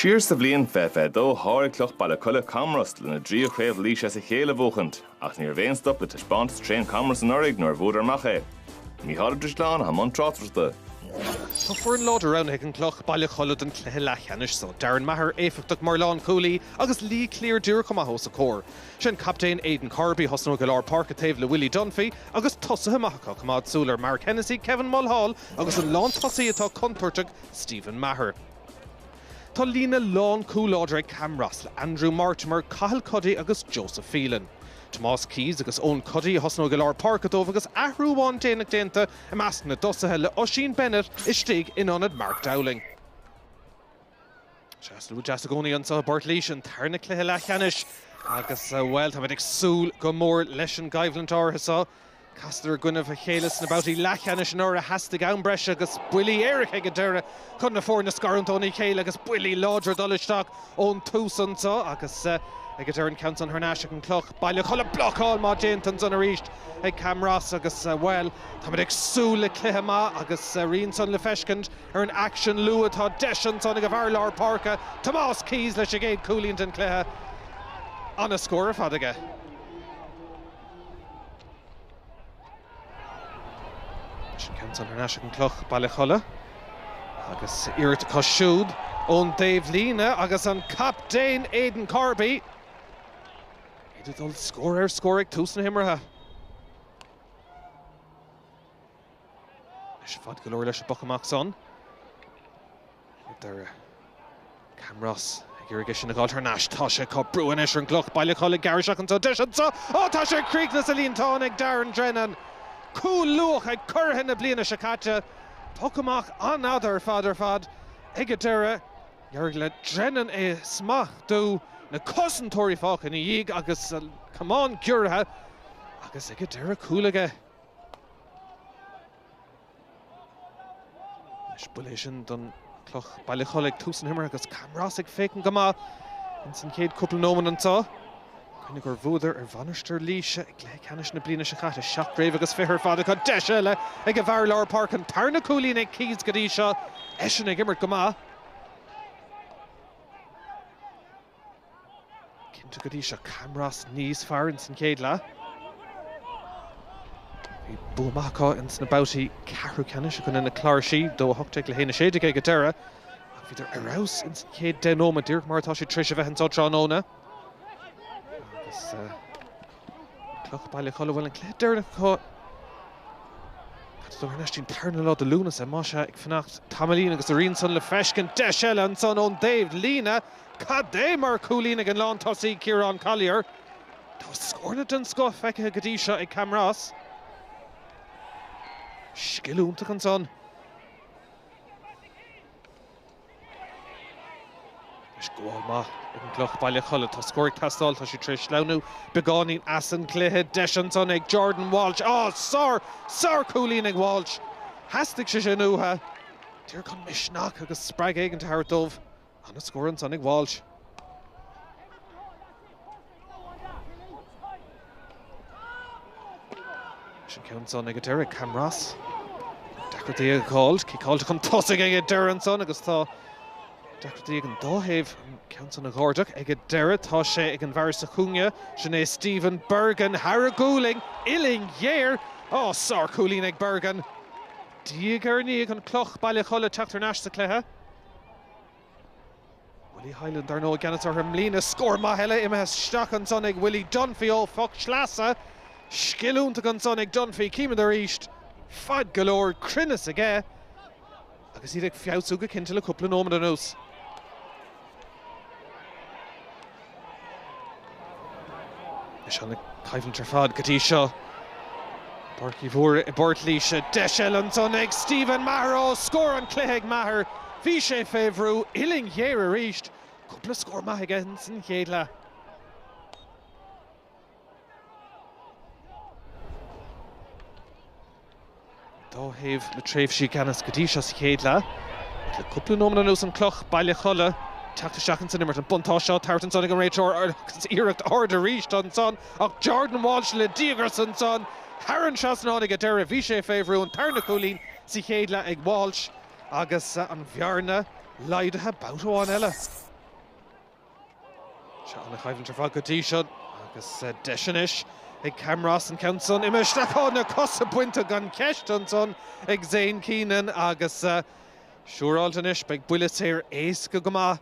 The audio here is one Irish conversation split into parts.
Siar sa bhliain fiche fiche dó sháraigh Cloch Baile Cholla Camros lena dtríú Craobh Laois as a chéile a bhuachaint, ach ní raibh aon stop le taispeántas tréan Camros anuraidh nuair a bhuadar amach é. Mícheál Ó Drisleáin atá i mbun tráchtaireachta. Tá foireann láidir roghnaithe ag an gCloch Baile Cholla don chluiche leathcheannais so, Darren Maher éifeachtach mar lánchúlaí agus Lee Cleere díreach chomh maith os a chomhair. Sé an Captaen Aidan Corby a thosnóidh i lár páirce taobh le Willie Dunphy agus tosaithe maithe acu, coimeád súil ar Mark Hennessy, Kevin Mulhall agus an lántosaí atá contúirteach Stephen Maher. Tá líne lánchúl láidir ag Camros le Andrew Mortimer, Cathal Cuddy agus Joseph Phelan. Tomás Keyes agus Eoin Cuddy a thosnóidh i lár páirce dóibh agus athrú amháin déanach déanta i measc na dtosaithe le Oisín Bennett istigh in ionad Mark Dowling. Sea, slua deas i gcónaí anso i bPort Laoise, an tarna cluiche leathcheannais agus, bhuel, táimid ag súil go mór leis an gcoimhlint áirithe so. Casadar i gcoinnibh a chéile sna babhtaí leathcheannais anuraidh, theastaigh am breise agus buillí éirice ag an deireadh chun na foirne a scarúint óna chéile agus buillí láidre ag dul isteach ón tús anso agus ag an deireadh an ceann san thar n-ais ag an gCloch Baile Cholla, blocáil mhaith déanta ansan arís ag Camros agus, bhuel, táimid ag súil le cluiche maith agus a rian san le feiscint. Ar an aicsean luath tá deis ansan ag an bhfear lár páirce, Tomás Keyes leis an gcéad cúilín den chluiche. An-scór ar fad aige. Sin ceann ansan ar ais ag an gCloch Baile Cholla agus iarracht acu siúd ón dtaobh líne agus an captaen Aidan Corby iad ag dul scór ar scór ag tús na himeartha. Anois fad go leor leis an bpoc amach san. Ag an deireadh Camros ag iarraidh é sin a dh'fháil thar n-ais. Tá sé acu, brú anois ar an gCloch Baile Cholla, ag gearradh isteach anso. Deis anso. Ó tá sé ag críochnú sa líontán ag Darren Drennan. Cúl luath ag curaithe na bliana seo caite. Poc amach an-fhada ar fad ar fad ag an deireadh. D'éirigh le Drennan é a smachtú. Na cosantóirí fágtha ina dhiaidh agus an camán giorraithe agus ag an deireadh cúl aige. Anois buille é sin don Chloch Baile Cholla ag tús na himeartha agus Camros ag féachaint go maith ins an chéad cúpla nóimeant anso. Cuimhnigh gur bhuadar ar Mhainistir Laoise i gcluiche ceannais na bliana seo caite, seacht gcraobh agus fiche ar fad acu. Deis eile ag an bhfear lár páirce, an tarna cúilín ag Keyes go dtí seo, eisean ag imirt go maith. Cinnte go dtí seo Camros níos fearr ins an chéad leath. Bhí bua maith acu ins na babhtaí ceathrú ceannais i gcoinne na Cláirsí, 2-18 le 1-16 ag an deireadh, ach bhíodar ar fheabhas ins an chéad deich nóiméad, díreach mar atá siad tréis a bheith anso tráthnóna. Agus. Cloch Baile Cholla bhfuil an cluiche deireanach acu. Thar n-ais dtí an tarna lá de Lúnasa más ea ag fanacht tamaillín agus a rian san le feiscint. Deis eile ansan ón dtaobh líne. Cad é mar chúilín ag an lán tosaí Ciarán Collier. Tá scóranna den scoth feicithe go dtí seo ag Camross. Scil iontach ansan. Gabháil mhaith ag an gCloch Bhaile Cholla. Tá scór ag teastáil. Tá siad tar éis sleamhnú beagáinín as an gcluiche. Deis ansan ag Jordan Walsh. Á! Sár, sár chúilín ag Walsh. Theastaigh sé sin uatha. Díreach chun misneach agus spreagadh éigin a thabhairt dóibh. An-scór ansan ag Walsh. Leis an ceann san ag deireadh, Camross. Deacrachtaí ag gabháilt, ciceáilte chun tosaigh ag deireadh ansan agus tá deacrachtaí ag an dá thaobh an ceann san a dh'ardach ag an deireadh. Tá sé ag an bhfear sa chúinne, sin é Stephen Bergin, thar a ghualainn, uillinn ghéar! Á, sárchúilín ag Bergin! Diaidh ar ndiaidh an cloch, Baile Cholla ag teacht thar n-ais sa chluiche. Willie Hyland dar ndóigh i gceannas orthu i mbliana. Scór maith eile imithe isteach ansan ag Willie Dunphy ó phoc sleasa. Scil iontach ansan ag Dunphy. Címid arís. Fad go leor. Cruinneas aige. Agus iad ag feabhsú go cinnte le cúpla nóiméad anuas. Is an-choimhlint ar fad go dtí seo. Páirc Uí Mhórdha i bPort Laoise. Deis eile ansan ag Stephen Maher. Ó, scór an chluiche ag Maher. Bhí sé fé bhrú uillinn ghéar arís. Cúpla scór maith aige insan chéad leath. Dá thaobh le tréimhsí i gceannas go dtí seo sa chéad leath. Ach le cúpla nóiméad anuas an Cloch, Baile Cholla, teacht isteach ins an imirt, an buntáiste á tabhairt ansan ag an réiteoir agus iarracht ard arís ansan ach Jordan Walsh le díograis ansan. Thar an trasnán ag an deireadh. Bhí sé fé bhrú, an tarna cúilín sa chéad leath ag Walsh agus an bhearna laghdaithe babhta amháin eile. Is an-choimhlint ar fad go dtí seo agus deis anois ag Camross an ceann san imithe isteach. Tá na cosa bainte gan cheist ansan ag Zane Keenan agus siúráilte anois beidh buille saor éasca go maith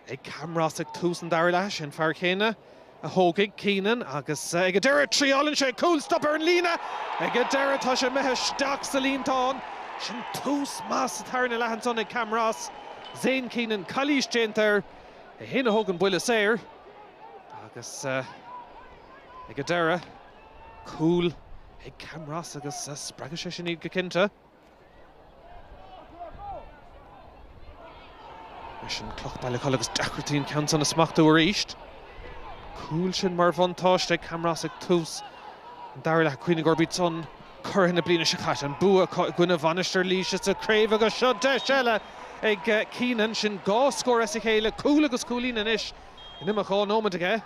ag Camross ag tús an dara leath. Sé an fear céanna a thógfaidh Keenan agus ag an deireadh triáileann sé cúl stop ar an líne. Ag an deireadh tá sé imithe isteach sa líontán. Sin tús maith sa tarna leath ansan ag Camross. Zane Keenan, calaois déanta air. É fhéin a thóg an buille saor agus ag an deireadh, cúl ag Camros agus spreagfaidh sé sin iad go cinnte. Mar sin, Cloch Baile Cholla agus deacrachtaí an ceann san a smachtú arís. Cúl sin mar bhuntáiste ag Camros ag tús an dara leath ag cuimhneamh gurb iad san Curaithe na bliana seo caite, an bua acu i gcoinne Mhainistir Laoise sa chraobh agus seo deis eile ag Keenan. Sin dhá scór as a chéile, cúl agus cúilín anois in imeacht dhá nóiméad aige.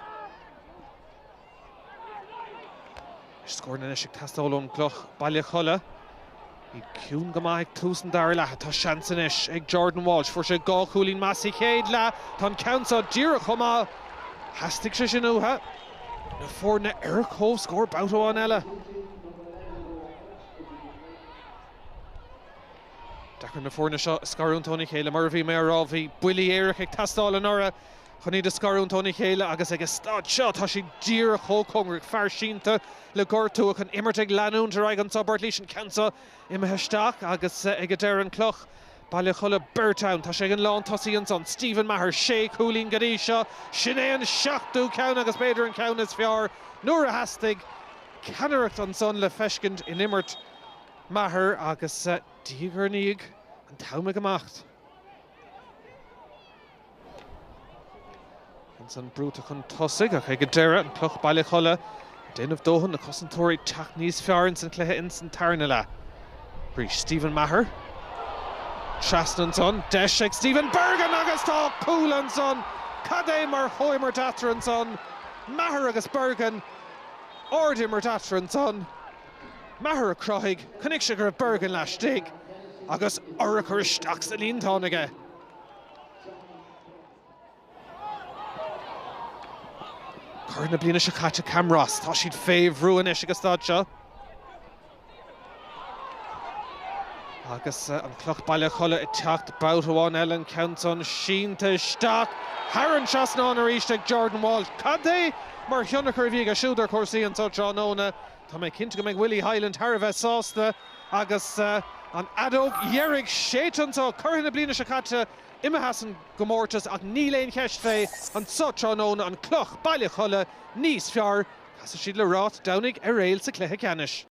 Scóranna anois ag teastáil ón gCloch, Baile Cholla. Iad ciúin go maith ag tús an dara leatha. Tá seans anois ag Jordan Walsh. Fuair sé dhá chúilín maith sa chéad leath. Tá an ceann seo díreach chomh maith. Theastaigh sé sin uatha. na foirne ar comhscór babhta amháin eile. Deacair na foirne seo a scarúint óna chéile. Mar a bhí mé á rá, bhí buillí éirice ag teastáil anuraidh chun iad a scarúint óna chéile agus ag a staid seo tá siad díreach chomh cóngarach, fear sínte le gortú ach an imirt ag leanúint ar aghaidh anso i bPort Laoise, an ceann seo imithe isteach agus ag a deireadh an Chloch. Baile Cholla, beirt ann. Tá sé ag an lántosaí ansan. Stephen Maher, sé cúilín go dtí seo. Sin é an seachtú ceann agus b'fhéidir an ceann is fearr nuair a theastaigh. Ceannaireacht ansan le feiscint in imirt Maher agus diaidh ar ndiaidh an t-am ag imeacht. Ansan brúite chun tosaigh ach ag an deireadh, an Cloch Baile Cholla, ag déanamh dóthain na cosantóirí ag teacht níos fearr ins an cluiche ins an tarna leath. Arís Stephen Maher. Trasna ansan, deis ag Stephen Bergin agus tá cúl ansan! Cad é mar chomhimirt eatarthu ansan, Maher agus Bergin. Ardimirt eatarthu ansan. Maher a cruthaigh, chonaic sé go raibh Bergin laistigh agus urchar isteach sa líontán aige. Curaithe na bliana seo caite, Camros, tá siad fé bhrú anois ag an stáid seo. Agus an Cloch Baile Cholla ag teacht babhta amháin eile, an ceann san sínte isteach thar an trasnán arís ag Jordan Walsh. Cad é mar thionchar a bhí aige siúd ar chúrsaí anseo tráthnóna. Tá mé cinnte go mbeidh Willie Hyland thar a bheith sásta agus an fheadóg dheiridh séidte anseo. Curaithe na bliana seo caite imithe as an gcomórtas ach níl aon cheist fé anseo tráthnóna, an Chloch Baile Cholla, níos fearr. Casfaidh siad le Ráth Domhnaigh Eiréil sa chluiche ceannais.